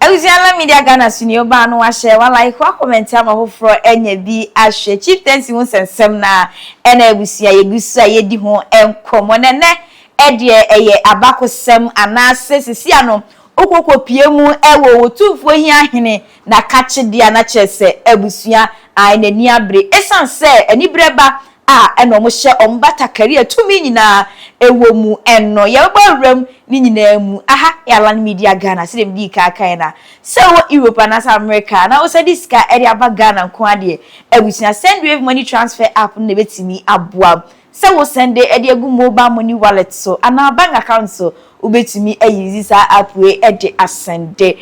Abusuala Media Ghana so ni obaa no wahyɛ wa like wa comment ama foforɔ anya bi ahwɛ Chieftaincy ho sɛnsɛm no a ɛna abusua yɛgu so a yɛdi ho nkɔmmɔ na ɛnɛ ɛdeɛ ɛyɛ abakosɛm anaase sisi ano wokɔ kɔ pie mu wɔ Otumfoɔ Hia Hene na kakye dea na kyerɛ sɛ abusua ae na ani abere esiane sɛ aniberɛ ba a ɛna wɔn hyɛ wɔn batakari a tumi nyinaa ɛwɔ mu ɛno yɛbɛbɔ awura mu ne nyinaa mu aha yɛ alan media Ghana sɛdeɛ medii kan kaeɛ na sɛ wowɔ Europe anaasɛ America a na wosan de sika ɛde aba Ghana nko ara deɛ abusua send wave money transfer app no na ɛbɛtumi aboa Sɛ wo sɛnde de agu mobile money wallet so anaa bank account so, wobɛtumi ayuzi saa app wei de asɛnde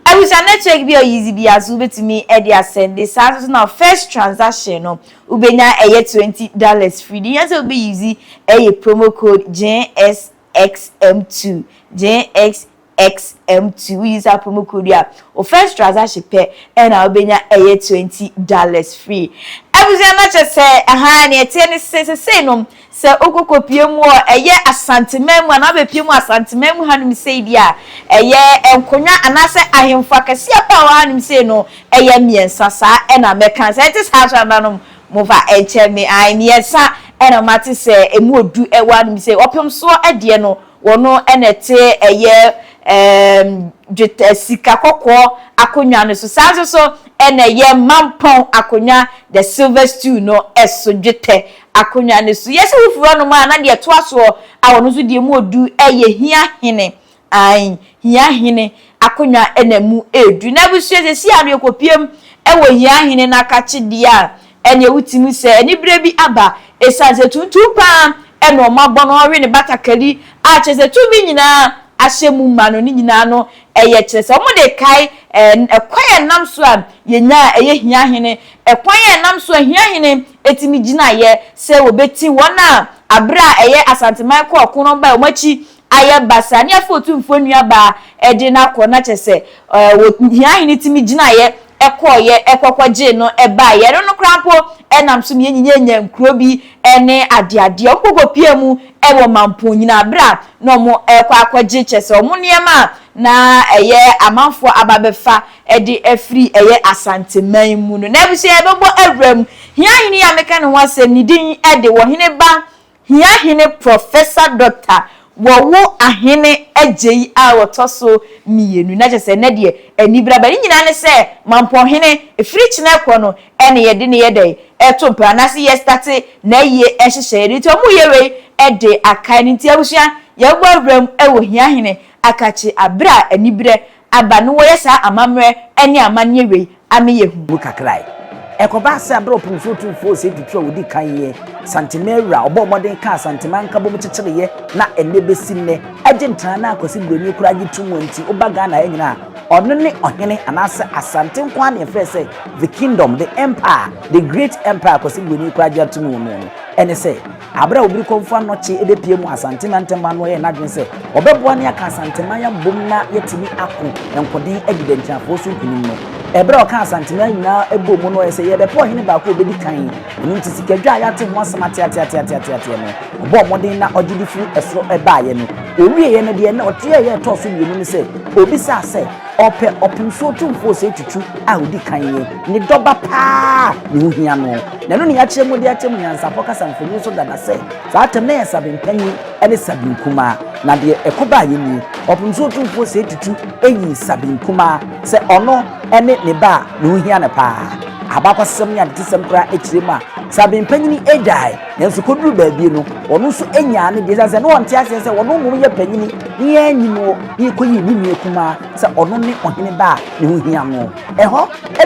abusua no check bi a ɔyuzi biara so wobɛtumi de asɛnde, saa nso na first transaction no wobɛnya ɛyɛ twenty dollars free, deɛ ohia sɛ wobɛyuzi ɛyɛ promo code JSXM2, JSXM2. XMT wo use promo code a wo first transaction pɛ ɛna wo bɛnya ɛyɛ twenty dollars free abusua na kyɛ sɛ ahaa neɛ ɛteɛ ne se sesei no sɛ wo kɔ kɔ pie mu wɔ ɛyɛ asanteman mu anaa wo bɛ pie mu wɔ asanteman mu ha nom sei deɛ a ɛyɛ nkonwa anaa sɛ ahenfo akɛseɛ paa wɔ ha nom sei no ɛyɛ miɛnsa saa ɛna mɛ kan sɛ ɛte saa so ɛna nom mo fa ɛnkyɛ me ae miɛnsa ɛna mate sɛ ɛmu odu ɛwɔ ha nom sei ɔpemsoɔ ɛdeɛ no. Wɔno na ɛte ɛyɛ ɛɛm dwetɛ ɛɛ sika kɔkɔɔ akonnwa no so. Saa nso so na ɛyɛ mampɔn akonnwa, the silver stool, no so, dwetɛ akonnwa no so. Yɛse wofiri hɔ nom a, na deɛ ɛtoa soɔ a wɔno nso deɛ mu ɔdu ɛyɛ hia hene, aane, hia hene akonnwa na mu ɛdu. Na abusua seesei a no yɛkɔpiem ɛwɔ hia hene no akakyedeɛ a ɛnneɛ wotumi sɛ aniberɛ bi aba ɛsiane sɛ tuntum pa ara na wɔabɔ no, wɔawe ne batakari a kyerɛ sɛ tumi nyina ara ahyɛ mu ma no, ne nyina ara no ɛyɛ kyerɛ sɛ wɔde rekae ɛkwan a ɛnam so a yɛnya a ɛyɛ hia hene, ɛkwan a ɛnam so a hia hene tumi gyinaeɛ sɛ wɔbɛti wɔn a aberɛ a ɛyɛ Asanteman kɔɔ ɔko no wɔbaeɛ wɔn akyi ayɛ basaa ne afei Otumfoɔ nuabaa de no akɔ na kyerɛ sɛ wɔ hia hene tumi gyinaeɛ kɔeɛ kɔkɔgyee no baeɛ ɛno no koraa mpo nam so na yɛnyinya nya nkuro bi ne adeadeɛ wɔn kɔkɔpia mu wɔ mampɔn nyinaa berɛ a na wɔn rekɔ akɔgye kyerɛ sɛ wɔn nneɛma a na ɛyɛ amanfoɔ aba abɛfa de afiri ɛyɛ Asanteman mu no na abusua yɛbɛbɔ awura mu hia hene yi a meka ne ho asɛm ne din de wɔ hene ba Hia Hene Professor Doctor wɔwo ahene agyei a wɔtɔ so mmienu na kyerɛ sɛ ɛnɛ deɛ anibere aba ne nyinaa ne sɛ mampɔn hene firi kyena ɛkɔ no ɛne yɛde ne yɛ dɛn ɛto mpra anaase yɛ state nayie nhyehyɛeɛ no nti ɔmo yɛ wei de akae no nti abusua yɛbɔ awuram wɔ hia hene akakye abere a anibere aba no wɔyɛ saa amammerɛ ne amanneɛ wei ama yɛahu. Mu kakra ɛ. Ɛkɔbaa sɛ bere a Ɔpemfoɔ Tumfoɔ Osei Tutu a ɔdi kan yɛ Santemaa wura, ɔbɔɔ mmɔden kaa Santemaa nkabom kyekyereeɛ na ɛnnɛ bɛsi nnɛ, Agyentra no a Kwasi Broni koraa gye tom a nti, woba Ghana ha nyinaa a, ɔno ne Ɔhene anaasɛ Asante nko ara na yɛfrɛ sɛ The Kingdom, The Empire, The Great Empire a Kwasi Broni koraa gye atom wɔ mu no, ɛne sɛ, Aber a Obirikɔmfo Anokye ebepue mu Asante Mantamu no yɛɛ n'adwen sɛ ɔbɛboa na yɛaka Asanteman abom na yɛatumi ako nkoden adi Dɛnkyɛmfoɔ so nkunim no. Bere a ɔkaa Asanteman nyinaa bɔɔ mu no ɔyɛɛ sɛ yɛrebɛpɛ ɔhene baako a obedi kan. Ɛno nti Sikadwa a yɛate ho asɛm ateateateateateateɛ no, ɔbɔɔ mmɔden na ɔgye de firi ɛsoro baeɛ no. Ɔwieeɛ no deɛ na ɔteɛ a ɛyɛ a ɛtɔɔ so mmienu ne sɛ ɔbisaa sɛ ɔpɛ Ɔpemsoɔ Tumfoɔ Osei Tutu a ɔdi kan yi, ne dɔba pa ara, ne ho hia no. Na ɛno ne yɛakyerɛ mu de akyerɛ mo nyansafo kasa mfonini so dada sɛ, saa tɛm no yɛ Sabin Panyin ne Sabin Kumaa. Na deɛ ɛko baeɛ nie, Ɔpem so Otumfoɔ Osei Tutu yii Sabin Kumaa sɛ ɔno ne ne ba a ne ho hia no paa. Abakɔsɛm ne adetesɛm koraa kyerɛ mu a, Sabin Panyin gyae, nanso kɔduruu baabi no, ɔno nso nyaa ne deɛ. Ɛsiane sɛ na ɔnte aseɛ sɛ ɔno mmom yɛ panyin ne yɛanyi noɔ, na yɛkɔyii ne nua kumaa sɛ ɔno ne ɔhene ba a ne ho hia noɔ. Ɛhɔ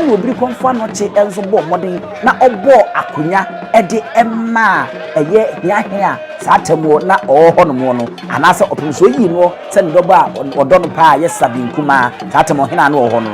na obirikɔmfo anɔkye nso bɔɔ mmɔden na ɔbɔɔ akonnwa de maa ɛyɛ hiahiaa saa atam hɔ na ɔwɔ hɔnom no, anaasɛ ɔpem sɛ oyii noɔ sɛ ne dɔba a ɔdɔ no paa a ɛyɛ sradeɛ nkumaa saa atam hɔ hena a na ɔwɔ hɔ no.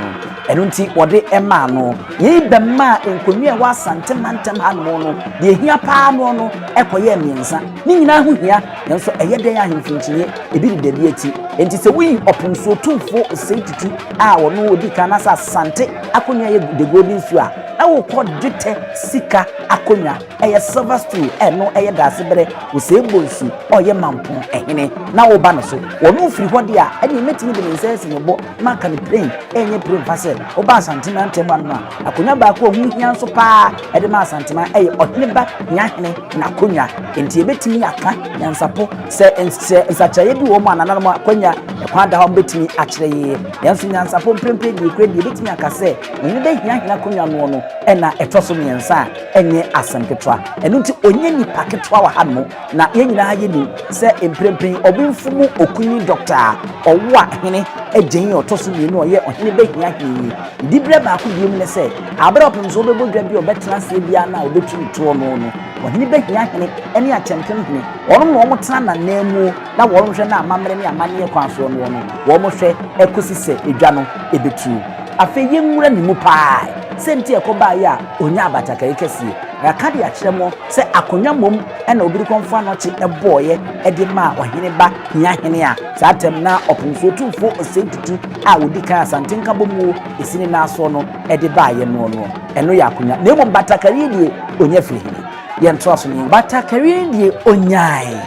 Ɛno nti wɔde maa no. Yei bɛmaa nkonnwa a ɛwɔ Asante mantam hanom no, deɛ ɛhia paa noɔ no kɔyɛɛ mmiɛnsa. Ne nyinaa ho hia. Nanso ɛyɛ dɛn a ahemfo nkyinnye ebi reda bi akyi? Enti sɛ woyi ɔpon so tumfo Osei Tutu a ɔno odi kan anaasɛ Asante akonnwa yɛ The Golden Stool a, na wokɔ dwetɛ sika akonnwa, ɛyɛ Silver Stool, a ɛno yɛ Daasebrɛ Osei Bonsu a ɔyɛ Mampong hene, na woba no so. Ɔno firi hɔ de a, ɛnneɛ mɛtumi de me nsa asi me bo na maka no pirein, ɛrenyɛ pirenfa sɛ, woba Asante mantam ha nom a, akonnwa baako a ɛho hia nso pa ara de ma Asanteman yɛ Ɔheneba Hiahene. n'akonwa. Enti yebetumi aka nyansapɔ sɛ sɛ nsakyeraeɛ bi wɔ hɔ ma anananom a, akwanya, ɛkwan da hɔ a wɔbetumi akyerɛ yiye. Nanso nyansapɔ mprempren deɛ ekura deɛ yebetumi aka sɛ Ɔhene bɛhia hene akonwa noɔ no ɛna ɛtɔ so mmiɛnsa a, ɛnyɛ asɛm ketewa. Ɛno nti ɔnyɛ nipa ketewa wɔ hanom. Na yɛn nyinaa yenim sɛ mprempren Ɔbenfo mu Okunini Dɔkta a ɔwoa hene agyayi a ɔtɔ so mmienu a ɔyɛ Ɔhene bɛhia hene yi. Diberɛ baako bio mu ne sɛ, aberɛ a ɔpem sɛ ɔbɛbɔ dwa bi a ɔbɛtena aseɛ biara no a ɔbɛtu no toɔ no no, ɔhene bɛhia hene ne akyɛmpem hene, wɔnom na wɔn tena nananmuo na wɔn hwɛ na amammerɛ ne amanneɛ kwan soɔ noɔ no wɔn hwɛ kɔsi sɛ dwa no bɛtuo. Afei yɛnwura ne mu paa sɛ nti a ɛkɔ baeɛ a ɔnyaa abatakari kɛseɛ. Yɛaka de akyerɛ mo sɛ akonnwa mmom na Obirikɔmfoɔ Anɔkye bɔeɛ de maa ɔhene ba hia hene a, Saa tɛm no ara ɔpon so tumfoɔ Osei Tutu a ɔdi kan Asante Nkabom wuo ɛsi ne nan soɔ no de baeɛ noɔ noɔ. Ɛno yɛ akonya. Na mmom batakari deɛ ɔnya firi he? Yɛntoa so ne. Batakari no deɛ ɔnyae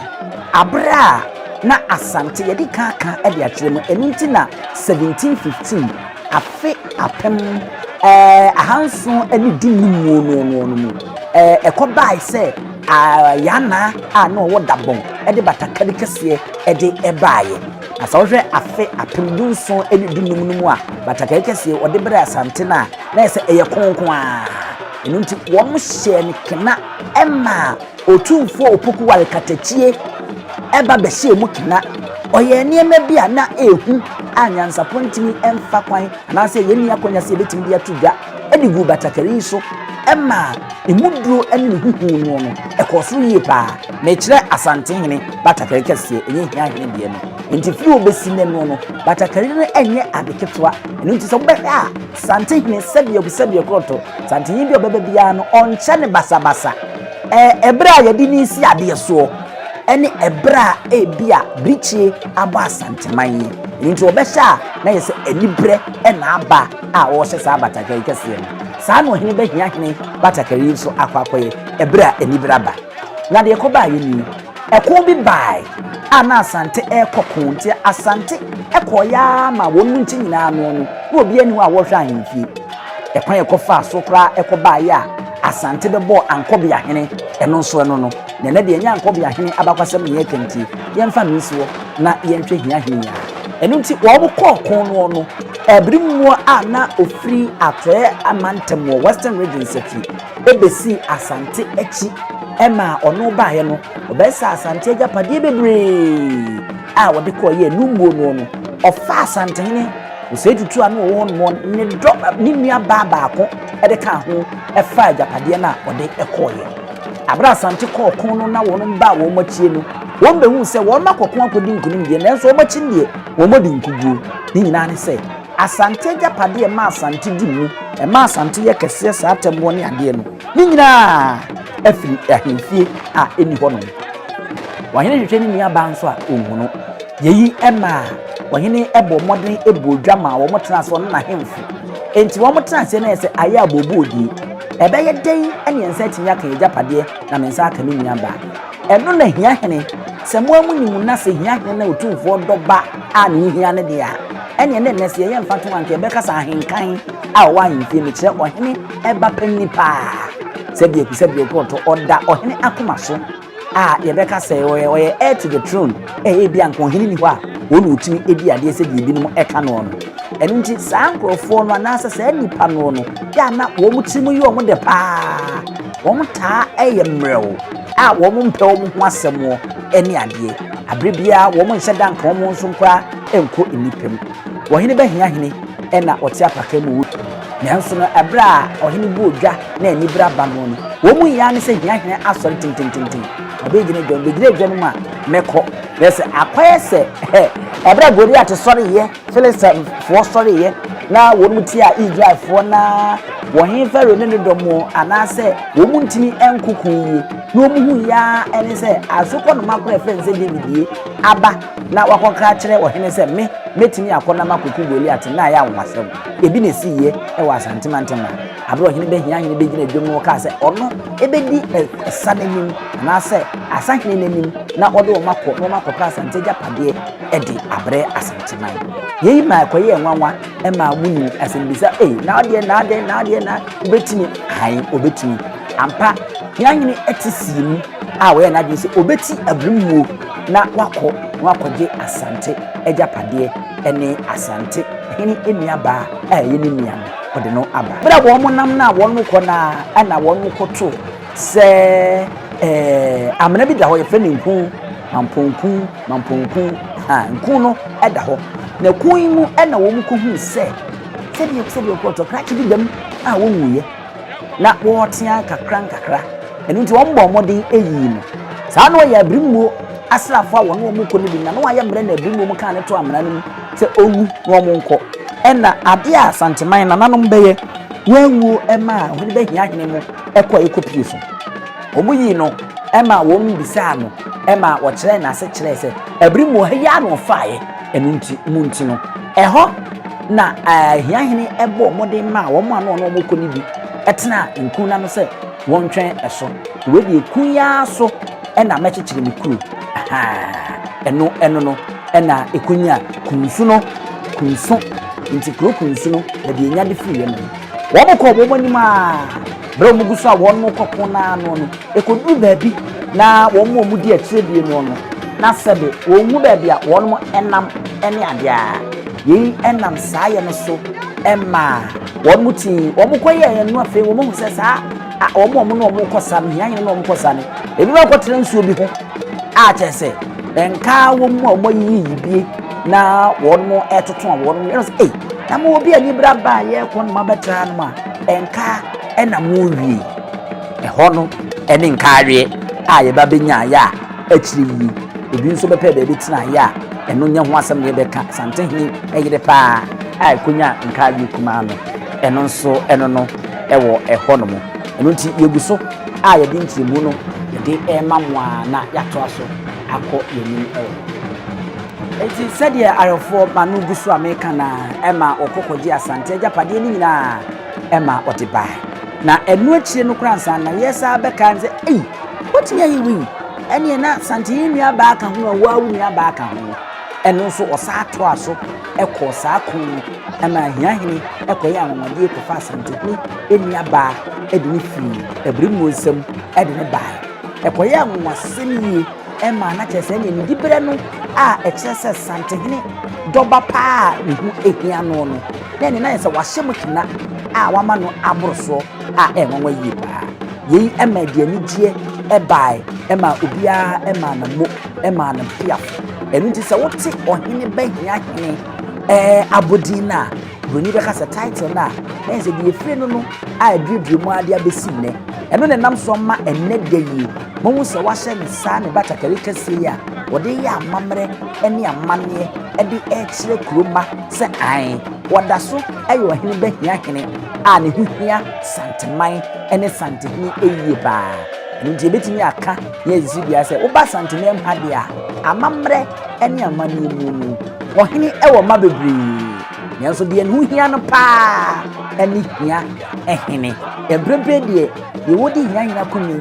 aberɛ a na Asante, yɛde kan aka de akyerɛ mu, ɛno nti na 1715, afe apem ahanson ne du-num muo noɔ noɔ no mu, ɛkɔbae sɛ, Ara yɛ ana a na ɔwɔ dabɔn de batakari kɛseɛ de baeɛ. Na sɛ wohwɛ afe apem dunson ne dunum no mu a, batakari kɛseɛ wɔde brɛɛ Asante no a, na ayɛ sɛ ɛyɛ kronkron ara. Ɛno nti wɔhyɛɛ no kena maa Otumfoɔ Opoku Ware Katakyie ba bɛhyɛɛ mu kena. Ɔyɛɛ nneɛma bi a na ɛyɛ hu a nyansapɔ ntumi mfa kwan anaasɛ yɛnni akwannya sɛ yɛbɛtumi de ato dwa. de guu batakari yi so maa emu duro ne ne ho huu no no, ɛkɔɔ soro yie paa. Mekyerɛ Asantehene batakari kɛseɛ, ɛnyɛ Hiahene deɛ no. Enti firi wɔbɛsi no ɛno no, batakari no nyɛ ade ketewa. Ɛno nti sɛ wobɛhwɛ a, Santehene sɛdeɛ ɔgu sɛdeɛ korɔto, Santehene bi a ɔbɛba biara no, ɔnkyɛ no basabasa. Ɛberɛ a yɛde no resi adeɛ soɔ ne ɛberɛ a ebi a birikyie abɔ Asanteman yi. Ɛno nti wɔbɛhwɛ a na yɛ sɛ aniberɛ na aba. a ɔrehyɛ saa batakari kɛseɛ no. Saa na ɔhene bɛhia hene batakari yi nso akɔ akɔyɛ ɛberɛ a aniberɛ aba. Na deɛ ɛkɔbaeɛ nie, ɛko bi baeɛ a na Asante rekɔ ko nti Asante kɔeɛ ara ma wɔn mu nkyɛ nyinaa ano no, na obiara nni hɔ a wɔrehwɛ ahemfie. Ɛkwan a ɛkɔfaa so koraa ɛkɔbaeɛ a Asante bɛbɔɔ Ankɔbea hene ɛno nso ɛno no. Na ɛnnɛ deɛ ɛnyɛ Ankɔbea hene abakwasɛm na yɛreka nti, yɛmfa no nsi hɔ na yɛnhwɛ hia hene yi ara. Ɛno nti, wɔkɔɔ ɔko no no bere mu a na ofiri Atɔe amantam wɔ Western Regions afi besii Asante akyi ma ɔno baeɛ no, ɔbɛsaa Asante agyapadeɛ bebree a ɔde kɔɔ yɛɛ Numbuo no no. Ɔfaa Asantehene Osei Tutu a na ɔwɔ hɔ no ne dɔ ne nua baa baako de kaa ho faa agyapadeɛ no a ɔde kɔeɛ. Abere a Asante kɔɔ ɔko no na wɔn baa wɔn akyie no, Wɔbɛhuu sɛ wɔakɔko akɔdi nkonim deɛ, nanso wɔbɛkyen deɛ, wɔadi nkoguo. Ne nyinaa ne sɛ, Asante agyapadeɛ ɛma Asante di mu, ɛma Asante yɛ kɛseɛ saa atɛmmoɔ ne adeɛ no, ne nyinaa afiri ahemfie a ɛnni hɔ nom. Ɔhene hwehwɛ ne nuabaa nso a, ɔnhunu. Yei maa ɔhene bɔɔ mmɔden bɔɔ dwa maa wɔn tenaa ase, ɔne n'ahemfo. Enti wɔn tena aseɛ no ayɛ sɛ ayɛ abooboo die. Ɛbɛyɛ dɛn ne yɛn nsa atumi aka yɛn agyapadeɛ na me nsa aka me nuabaa? Ɛno na hia hene, sɛ mo ara mo nim na sɛ hia hene na otumfoɔ dɔ ba a ne ho hia no deɛ a, ɛneɛ ne nnɛ sɛ yɛyɛ mfatoho a anka yɛbɛka sɛ ahenkan a ɔwɔ ahemfie mekyerɛ ɔhene ɛba panini paa sɛdeɛ aku sɛ deɛ ɔkorɔtɔ ɔda ɔhene akoma so a yɛbɛka sɛ ɔyɛ ɔyɛ heir to the throne ɛyɛ bi anka ɔhene ni hɔ a wɔn na ɔtumi ɛdi adeɛ sɛdeɛ ebinom ɛka noɔ no ɛno nti saa nkorɔfoɔ no anaasɛ saa nipa noɔ no yɛ a na wɔn tirim yɛ wɔn dɛ paa Wɔtaa yɛ mmerɛw a wɔmpɛ wɔn ho asɛm ne adeɛ. Bere biara wɔnhyɛ da nka wɔn nso koraa nkɔ nnipa mu. Ɔhene bɛhea hene na ɔte apaka mu wɔ kurom. Nanso no, bere a ɔhene bu odwa na anibere aba no no, wɔn mu hia ne sɛ hia hene asɔre tentententen. Ɔbɛgyina dwa mu, bɛgyina dwa no mu a, mɛkɔ. Hwɛ sɛ akɔyɛ sɛ bere a Goliat sɔreeɛ. Filistifoɔ sɔreeɛ na wɔn tiaa Israelfoɔ na wɔn he Farao ne ne dɔm wɔ anaasɛ wɔn ntini nkoko yie na wɔn hu yaa ɛne sɛ asokɔ noma korɔ ɛfɛ nsɛ David die aba na wakɔkra kyerɛ ɔhene sɛ me mɛtumi akɔ na makoko Goliat na ayɛ anwasɛm ebi na ɛsi yie ɛwɔ asantemantam a aberɛ ɔhene bɛhia hene bɛgyina dwam no ɔkaa sɛ ɔno ɛbɛdi ɛsa n'anim anaasɛ asahene n'anim na ɔde wɔn akɔ na wɔn akɔkra asante agyapadeɛ de abrɛ Asanteman. Yei ma ɛkɔyɛɛ nwanwa ma wonii asɛmmisa, Ei, na adeɛ, na adɛn, na adeɛ, na wobɛtumi? Ae, wɔbɛtumi. Ampa, Hiahene te sii mu a ɔyɛɛ n'adwene sɛ ɔbɛti abirimuo na wakɔ na wakɔgye Asante agyapadeɛ ne Asante hene nuabaa a ɛyɛ ne nua no, ɔde no aba. Berɛ a wɔnam no a wɔkɔ no ara na wɔkɔto sɛ ɛɛ, amena bi da hɔ, yɛfrɛ no Nku, Mampɔnku. Mamponku a nkun no da hɔ, na kun yi mu na wɔkɔhuu sɛ sɛdeɛ sɛdeɛ kɔtɔkrakye bi dam a wɔnwuiɛ na wɔretea kakra nkakra ɛno nti wɔn bɔ mmɔden yii no saa na wɔyɛ abirimuo asraafoɔ a wɔne wɔn kɔ no bi na na wɔayɛ mmerɛ na abirimuo mu kaa ne to amena no mu sɛ ɔwu na wɔn nkɔ ɛna adeɛ a santeman nananom bɛyɛ wɔawuo ɛma a wɔde bɛhia hene mu ɛkɔ ɛkɔ pie so Wɔyii no ma wɔbisaa no ma wɔkyerɛɛ no ase kyerɛɛ sɛ, Bere mu wɔ ha yi ara na wɔfaaeɛ, ɛno nti, mo nti no. Ɛhɔ na ahiahene bɔɔ mmɔden maa wɔn a na wɔne wɔn rekɔ no bi tenaa nkun no ano sɛ wɔntwɛn so. Wei deɛ, kun yi ara so na mɛkyekyere me kuro. Aha! Ɛno ɛno no na ɛkɔnyaa kunsu no, kunsu, nti kuro kunsu no, baabi a ɛnya de firiiɛ no. Wɔkɔɔ wɔn anim ara. Berɛ a wɔgu so a wɔn rekɔ ko no ara no, ɛkɔduru baabi na wɔn a wɔdi akyire bie no no, na sɛbe wɔnhu baabi a wɔnom nam ne adeɛ a. Yei nam saa yɛ no so maa wɔnom tii wɔn kɔyɛeɛ no afei wɔn ahu sɛ saa a wɔn a wɔnom rekɔ sa no, hiahia na wɔn rekɔ sa no, ebi ma kɔtena nsuo bi ho a kyerɛ sɛ nkaa wɔn mu a wɔn ayiyi yibie na wɔn ɛtoto a wɔn yɛrɛ sɛ ei na mo obi ani bra baa yɛrekɔ no ma bɛtra no ma Nkaa na mowie. Ɛhɔ no ne nkaaweɛ a yɛba bɛnyaeɛ a akyire yi ebi nso bɛpɛɛ baabi tenaeɛ a ɛno nyɛ ho asɛm na yɛbɛka. Asantehene yere pa ara a ɛkɔnyaa nkaaweɛ kumaa no, ɛno nso ɛno no wɔ ɛhɔ nom. Ɛno nti yɛgu so a yɛde nkyerɛmu no yɛde rema mo ara na yɛatoa so akɔ yɛn anim wɔ hɔ. Enti sɛdeɛ awerɛfoɔ ma no gu so a meka no ara, ɛma ɔkɔ kɔgye Asante agyapadeɛ no nyina ara, ɛma ɔde bae. Na ɛno akyire no koraa ansa na yɛsan bɛkae no sɛ, Ei, woatumi ayɛ wei? Ɛnneɛ na Asante yɛ nuabaa ka ho a, wo ara wo nuabaa ka ho. Ɛno nso ɔsan toaa so kɔɔ saa ko no ma Ahiahene kɔyɛɛ anwanwadeɛ kɔfaa Asantehene nuabaa de no firii Abirimuo nsam de no baeɛ. Ɛkɔyɛɛ anwanwasɛm yie. Ɛma na kyerɛ sɛ ɛneɛ ne diberɛ no a ɛkyerɛ sɛ Santehene Dɔba paa a ne ho hia noɔ no, na ɛneɛ na ayɛ sɛ wahyɛ mu kena a wama no aboro soɔ a ɛɛnwanwa yie paa. Yei ma ɛde anigyeɛ baae maa obiara maa na mo maa n'abusuafo. Ɛno nti sɛ wote Ɔhene Bɛhia Hene abodin no a, Buroni bɛka sɛ title no a ɛyɛ sɛ deɛ ɛfiri no no a ɛduadua mu ara de abɛsi nnɛ, ɛno na ɛnam soɔ ma ɛnnɛ da yi moahu sɛ wɔahyɛ no saa ne batakari kɛseɛ yi a wɔde yɛ amammerɛ ne amanneɛ de rekyerɛ kuro mma sɛ ae, wɔda so yɛ ɔhene bahia hene a ne ho hia Santeman ne Santehene yie paa. Ɛno nti yɛbɛtumi aka yɛn sisi biara sɛ woba Santeman mu ha deɛ a, amammerɛ ne amanneɛ mu no, ɔhene wɔ mma bebree. Nanso deɛ ɛho hia no paa ne hia hene. Mprempren deɛ deɛ wɔdi hia hene akonnwa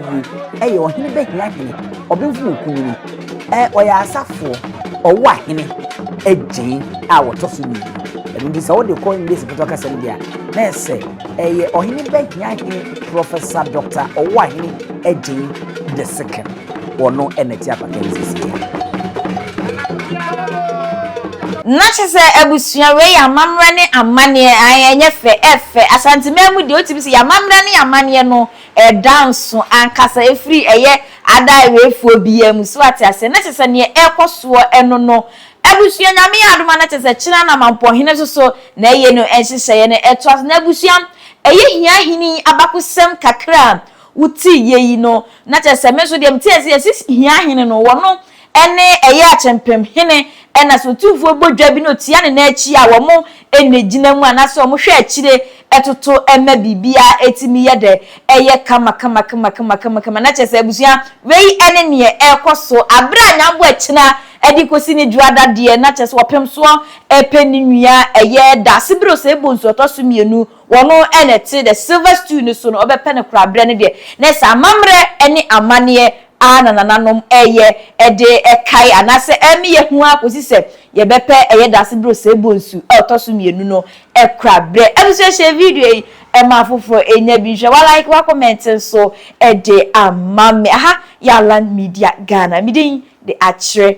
yie yɛ ɔhene bɛhia hene, ɔbenfo wɔ kunini, ɔyɛ asafoɔ, ɔwɔ ahene agyen a wɔtɔ so mmienu. Ɛno nti sɛ wode kɔ English foto kasa no bi a, na ɛsɛ ɛyɛ ɔhene bɛhia hene, Professor Dr. Ɔwɔ ahene agyen the second. Ɔno na ɛte apata no sisi nnɛ. Na kyerɛ sɛ abusua wei yɛ amammerɛ ne amanneɛ ae ɛnyɛ fɛ ɛfɛ Asanteman mu deɛ wotumi sɛ yɛ amammerɛ ne amanneɛ no ɛda nso ankasa ɛfiri ɛyɛ adaaeɛfoɔ biara mu so ate aseɛ na kyerɛ sɛ neɛ ɛkɔ soɔ ɛno no abusua Nyame yɛ adom a na kyerɛ sɛ kyena na Mampɔhene nso so na ɛyɛ no nhyehyɛeɛ no ɛtoa so na abusua ɛyɛ hia hene yi abakosɛm kakra a Wo tee yɛ yi no na kyerɛ sɛ me nso deɛ me tee aseɛ sɛ hia hene no wɔ no ɛne ɛyɛ akyɛmpɛm hene ɛna sɛ otumfoɔ bɔ dwa bi na otia ne nan akyi a wɔn ɛnɛ gyina mu anaasɛ wɔn hwɛ akyire ɛtoto ɛma biribiara ɛtumi yɛ dɛ ɛyɛ kama kama kama kama kama kama na kyerɛ sɛ abusua wei ɛne neɛ ɛkɔ so aberɛ a nyambo akyina ɛde kɔsi ne dwoa dadeɛ na kyerɛ sɛ ɔpemsoɔ ɛpɛ ne nua ɛyɛ dasebere ɔsɛe bonsu ɔtɔ so mmienu Wɔno na ɛte dɛ silver stool no so no, ɔbɛpɛ no koraa berɛ no deɛ, na ɛsɛ amammerɛ ne amanneɛ ara na nananom reyɛ de kae anaasɛ ɛreme yɛn ho ara kɔsi sɛ yɛbɛpɛ ɛyɛ dase berɛ ɔsɛe bonsu a ɔtɔ so mmienu no kora berɛ. Abusua share video yi ma afoforɔ nya bi nhwɛ, wa like, wa comment nso de ama me. Aha yɛ Alan Media Ghana, me din de Akyerɛ.